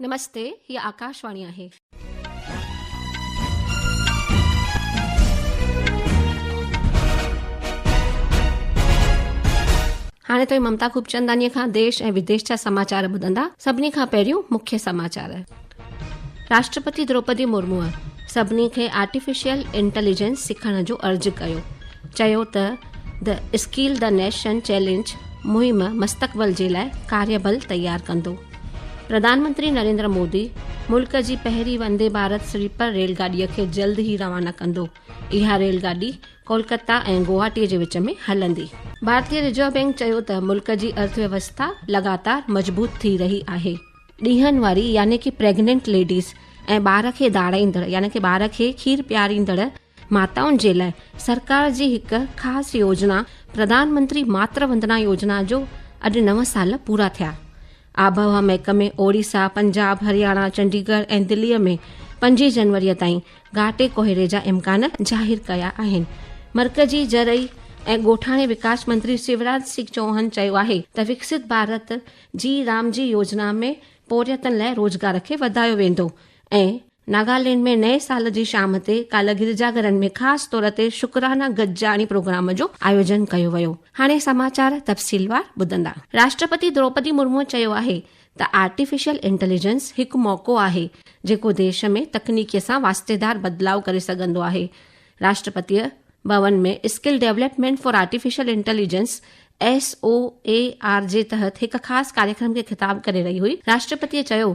نمستي هي آڪاشواڻي آهي. هاڻي توهين ممتا خوبچندانيء کان ديش ۽ وديش جا سماچار ٻڌندا، سڀني کان پهريون مکيه سماچار. راشٽرپتي دروپدي مرموء سڀني کي آرٽيفيشل انٽيليجنس سکڻ جو عرض ڪيو، چيو ته the skill the nation challenge مهم مستقبل جي لاء ڪاريبل تيار ڪندو. پرڌانمنتري نريندر مودي ملڪ جي پهرين وندي ڀارت سليپر ريل گاڏيء کي جلد ئي روانا ڪندو اها ريل گاڏي ڪولڪتا ۽ گوهاٽي جي وچ ۾ هلندي ڀارتي رزرو بئنڪ چيو ته ملڪ جي ارٿ ويوسٿا لڳاتار مضبوط ٿي رهي آهي. ڏينهن واري يعني ڪي پريگننٽ ليڊيز ۽ ٻار کي ڌاڙائيندڙ يعني ڪي ٻار کي کير پياريندڙ ماتائن جي لاء سرڪار جي هڪ خاص يوجنا پرڌان منتري ماتر وندنا يوجنا جو اڄ نو سال پورا ٿيا آبهوا محڪمي اوڙيسا پنجاب هرياڻا چنڊيگڙھ ۽ دلي ۾ پنجين جنوري تائين گهاٽي ڪوهيڙي جا امڪان ظاهر ڪيا آهن مرڪزي زرعي ۽ ڳوٺاڻي وڪاس منتري شيوراج سنگھ چوهان چيو آهي ته وڪسيت ڀارت جي رام جي يوجنا ۾ پورهيتن لاء روزگار کي وڌايو ويندو ۽ ناگالينڊ ۾ نئين سال جي شام تي ڪالهه گرجا گهرن ۾ خاص طور تي شڪرانه گڏجاڻي پروگرام جو آيوجن ڪيو ويو هاڻي سماچار تفصيلوار ٻڌندا راشٽرپتي دروپدي مرمو چيو آهي ته آرٽيفيشل انٽيليجنس هڪ موقعو آهي جيڪو ديش ۾ تڪنيڪي سان واسطيدار بدلاء ڪري سگهندو آهي Rashtrapati Bhavan ۾ skill development for artificial intelligence S O A R جي تحت هڪ خاص ڪاريڪرم کي خطاب ڪري رهي هئي راشٽرپتي چيو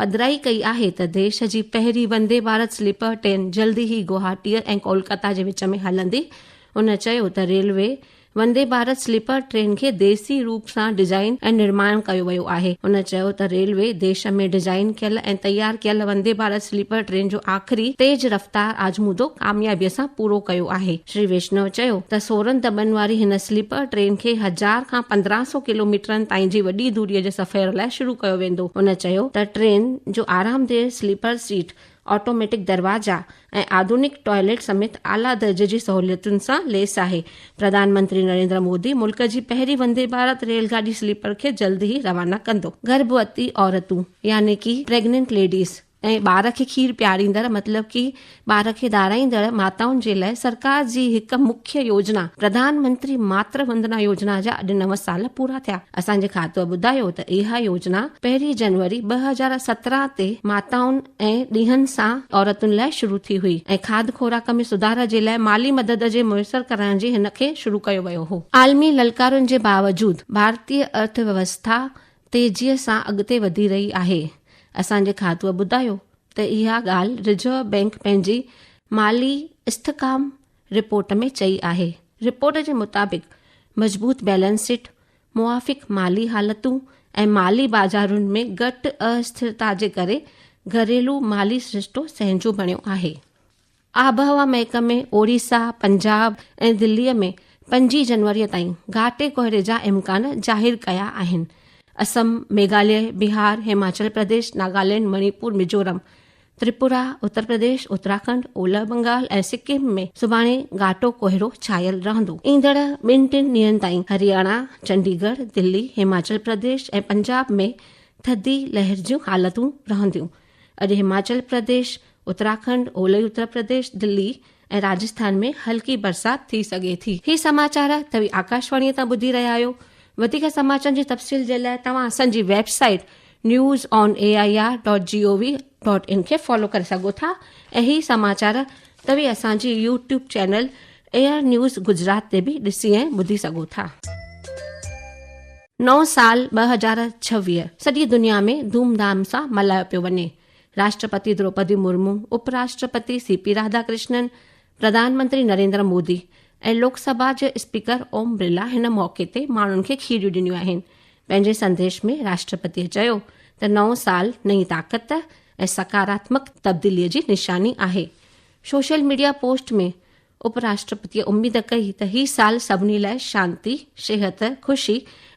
پڌرائي ڪئي آهي ته ديش جي پهرين وندي ڀارت سليپر ٽرين جلدي ئي گوهاٽي ۽ ڪولڪتا جي وچ ۾ هلندي ان چيو ته railway Vande Bharat sleeper train کي ديسي روپ سان ڊزائين ۽ نرماڻ ڪيو ويو آهي ان چيو ته ريلوي ديش ۾ ڊزائين ڪيل ۽ تيار ڪيل وندي ڀارت سليپر ٽرين جو آخري تيز رفتار آزمودو ڪاميابي سان پورو ڪيو آهي شري ويشنو چيو ته سورهن دٻن واري هن سليپر ٽرين کي هزار کان پندرهن سئو ڪلوميٽرن تائين جي وڏي دوريء جي سفير لاء شروع ڪيو ويندو. هن چيو ته ٽرين جو آرامده سليپر سيٽ، آٽوميٽڪ دروازا ۽ آڌونڪ ٽوائلٽ سميت اعليٰ درجي جي سهوليتن سان ليس آهي. پرڌان منتري نريندر مودي ملڪ جي پهرين وندي ڀارت ريل گاڏي سليپر کي جلد ئي روانا ڪندو. گرڀوتي عورتون يعني ڪي پريگننٽ ليڊيز ۽ ٻار کي کير پياريندڙ مطلب ڪي ٻار کي ڌارائيندڙ ماتائن جي لاء سرڪار جي هڪ مکيه يوجنا پرڌان منتري ماتر وندنا يوجنا جا اڄ نو سال پورا ٿيا اسان جي کاتوء ٻڌايو ته اها يوجنا پهرين جنوري ٻه هزار سترهن تي ماتائن ۽ ڏينهن سان عورتن لاء شروع ٿي هئي ۽ کاڌ خوراڪ ۾ سڌار جي لاء مالي مدد جي ميسر ڪرڻ جي هن کي شروع ڪيو ويو هو. عالمي للڪارن جي باوجود ڀارتي ارٿ ويوسٿا تيزيء سان اڳتي وڌي رهي آهي، اسان جي کاتوء ٻڌايو ته اها ڳالهه رزرو بئنڪ پنهنجي مالي استحڪام رپورٽ ۾ چئي آهي، رپورٽ جي مطابق مضبوط بيلنس شيٽ، موافق مالي حالتون ۽ مالي بازارن ۾ گهٽ ااستھرتا جي ڪري گهريلو مالي سرشتو سهنجو بڻيو آهي. آبهوا محڪمي اوڙيسا، پنجاب ۽ دلي ۾ پنجين جنوري تائين گهاٽي ڪوهري جا امڪان ظاهر ڪيا آهن. اسم، ميگهاليه، بهار، هماچل پرديش، ناگالينڊ، مڻيپور، ميزورم، تريپورا، اتر پرديش، اتراکنڊ، اولهه بنگال ۽ سڪم ۾ سڀاڻي گهاٽو ڪوهرو ڇانيل رهندو. ايندڙ ٻن ٽن ڏينهن تائين هرياڻا، چنڊي ڳڙهه، دلي، هماچل پرديش ۽ پنجاب ۾ ٿڌي لهر جون حالتون رهنديون. اڄ هماچل پرديش، اتراکنڊ، اولهه اترپرديش، دلي ۽ راجسٿان ۾ هلڪي برسات ٿي سگهي ٿي. هي سماچار توهين آڪاشواڻيء تان ٻڌي رهيا آهيو. وڌيڪ سماچارن جي تفصيل جي لاء توهان اسان جي website news on A I R dot G O V dot in کي فالو ڪري سگهو ٿا ۽ هي سماچار توهين اسان جي YouTube channel Air News Gujarat تي به ڏسي ۽ ٻڌي سگهو ٿا. نئون سال ٻه هزار ڇويهه سڄي دنيا ۾ ڌوم ڌام سان ملهايو پيو وڃي، راشٽرپتي دروپدي مرمو، اپ راشٽرپتي سي پي راڌا ڪرشنن، پرڌان منتري نريندر مودي ۽ لوڪ سڀا جي اسپيڪر اوم برلا هن موقعي تي ماڻهن کي کيريون ڏنيون آهن. پنهنجي سنديش ۾ راشٽرپتي چيو ته نئون سال نئين طاقت ۽ سڪاراتمڪ تبديلي جي نشاني آهي. سوشل ميڊيا پوسٽ ۾ اپ راشٽرپتيء اميد ڪئي ته هي سال سڀني لاء شانتي، صحت، خوشي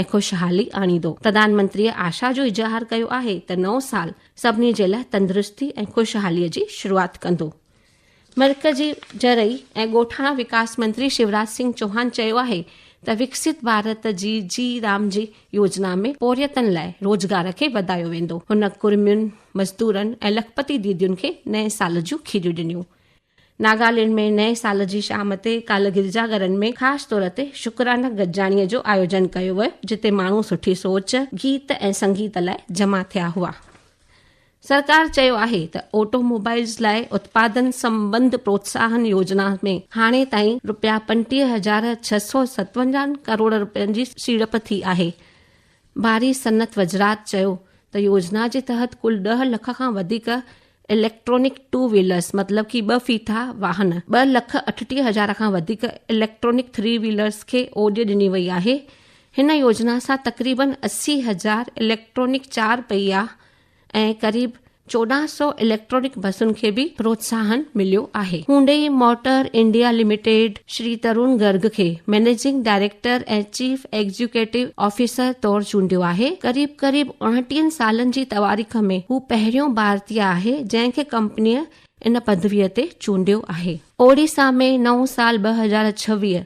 ۽ خوشحالي آڻيندو. پرڌان منتريء آشا جو اظهار ڪيو آهي ته نئون سال سڀني جي لاء تندرستي ۽ خوشحاليء جي شروعات ڪندو. مرڪزي زرعي ۽ ڳوٺاڻا وڪاس منتري شيوراج سنگهه چوهان چيو آهي ته وڪسيت ڀارت جي جي رام جي يوجنا ۾ پورهيتن لاء روزگار کي وڌايو ويندو. هن ڪرمين، مزدورن ۽ لکپتي ديدين کي نئين سال جون کيريون ڏنيون. ناگالينڊ ۾ نئين سال جي شام تي ڪالهه گرجا گهرن ۾ خاص طور تي شڪرانه گڏجاڻيء جو آيوجن ڪيو ويو، جتي ماڻهو سٺي سوچ، گيت ۽ سنگيت لاء جمع ٿيا هئا. سرڪار چيو آهي ته آٽو موبائيلز لاء اتپادن سمٻنڌ پروتساهن يوجنا ۾ هاڻي تائين روپيا پنٽيهه هزار ڇهه سؤ ستونجاهه ڪروڙ روپين جي سيڙپ ٿي آهي. واري صنعت وزرات چيو ته يوجنا جي تحت ڪل ڏهه لک کان وڌيڪ اليڪٽرانڪ ٽو ويلرز مطلب ڪي ٻه ڦيٿا واهن، ٻه لک اٺٽيهه هزار کان وڌيڪ اليڪٽرانڪ ٿري ويلرز کي اوڄ ڏني وئي آهي، هن يوجنا سان تقريبن اسي هزار اليڪٽرانڪ چار پهيا ۽ قريب چوڏهن سؤ اليڪٽرانڪ بسن کي به پروتساهن مليو آهي Hyundai Motor India Limited Shri Tarun Garg کي managing director ۽ chief executive officer طور چونڊيو آهي قريب قريب اڻٽيهن سالن جي تواريخ ۾ هو پهريون ڀارتي آهي جنهن کي ڪمپنيء ان پدويء تي چونڊيو آهي اوڙيسا ۾ نئون سال ٻه هزار ڇويهه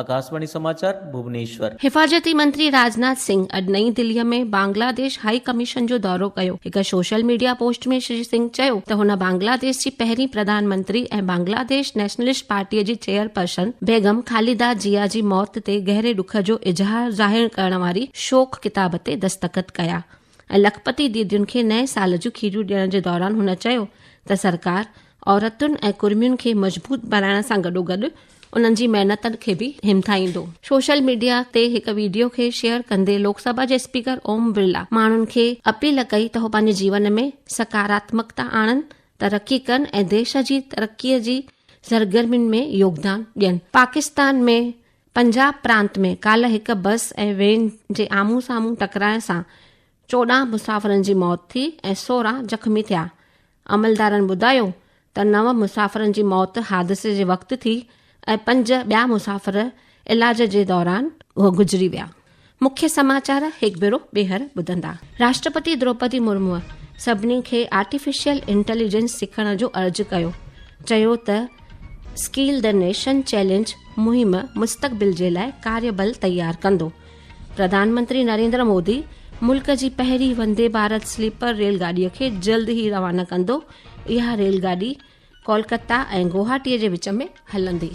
آڪاشواڻي سماچار، ڀوونيشور. حفاظتي منتري راجناٿ سنگهه اڄ نئين دهليء ۾ بنگلاديش هائي ڪميشن جو دورو ڪيو. هڪ social media post ۾ Shri Singh چيو ته هن بنگلاديش جي پهرين پرڌان منتري ۽ بنگلاديش نيشنلسٽ پارٽيء جي چيئرپرسن بيگم خالده جيا جي موت تي گهري ڏک جو اظهار ظاهر ڪرڻ واري شوق ڪتاب تي دستخط ڪيا. ۽ لکپتي ديدين کي نئين سال جون کيريون ڏيڻ جي دوران هن چيو ته سرڪار عورتن ۽ ڪرمين کي مضبوط بڻائڻ سان گڏوگڏ انهن جي محنتن کي به همٿائيندو. سوشل ميڊيا تي هڪ ويڊيو کي شيئر ڪندي لوڪ سڀا جي اسپيڪر اوم برلا ماڻهن کي اپيل ڪئي ته هو پنهنجي جيون ۾ سڪاراتمڪتا آڻن، ترقي ڪن ۽ ديش جي ترقي جي سرگرمين ۾ يوگدان ڏين. پاڪستان ۾ پنجاب پرانت ۾ ڪالهه هڪ بس ۽ وين جي آمهون سامهون ٽڪرائڻ سان چوڏهن مسافرن جي موت ٿي ۽ سورهن زخمي ٿيا. عملدارن ٻڌايو ته نو مسافرن جي موت حادثي جي وقت ٿي ۽ پنج ٻيا مسافر علاج جي دوران گذري ويا. مکيه سماچار هڪ ڀيرو ٻيهر ٻڌندا. راشٽرپتي دروپدي مرموء سڀني کي آرٽيفيشل انٽيليجنس سکڻ جو عرض ڪيو، چيو ته اسڪيل دي نيشن چئلينج مهم مستقبل جي لاء ڪاري بل تيار ڪندو. پرڌانمنتري نريندر مودي ملڪ جي پهرين وندي ڀارت سليپر ريل گاڏي کي جلد ئي روانا ڪندو، اها ريل گاڏي ڪولڪتا ۽ گوهاٽي جي وچ ۾ هلندي.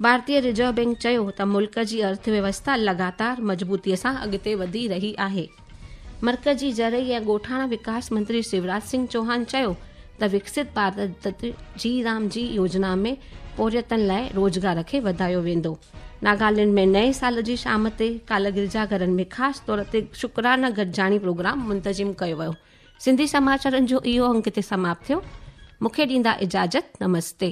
ڀارتي رزرو بئنڪ چيو ته ملڪ جي ارٿ ويوسٿا لڳاتار مضبوطي سان اڳتي وڌي رهي آهي مرڪزي زرعي ۽ ڳوٺاڻا وڪاس منتري شوراج سنگھ چوهان چيو ته وڪسيت ڀارت جي رام جي يوجنا ۾ پورهيتن لاء روزگار کي وڌايو ويندو ناگالينڊ ۾ نئين سال جي شام تي ڪالهه گرجا گهرن ۾ خاص طور تي شڪرانه گڏجاڻي پروگرام منتظم ڪيو ويو سنڌي سماچارن جو اهو انگ هتي سماپت ٿيو. مون کي ڏيندا اجازت. نمستي.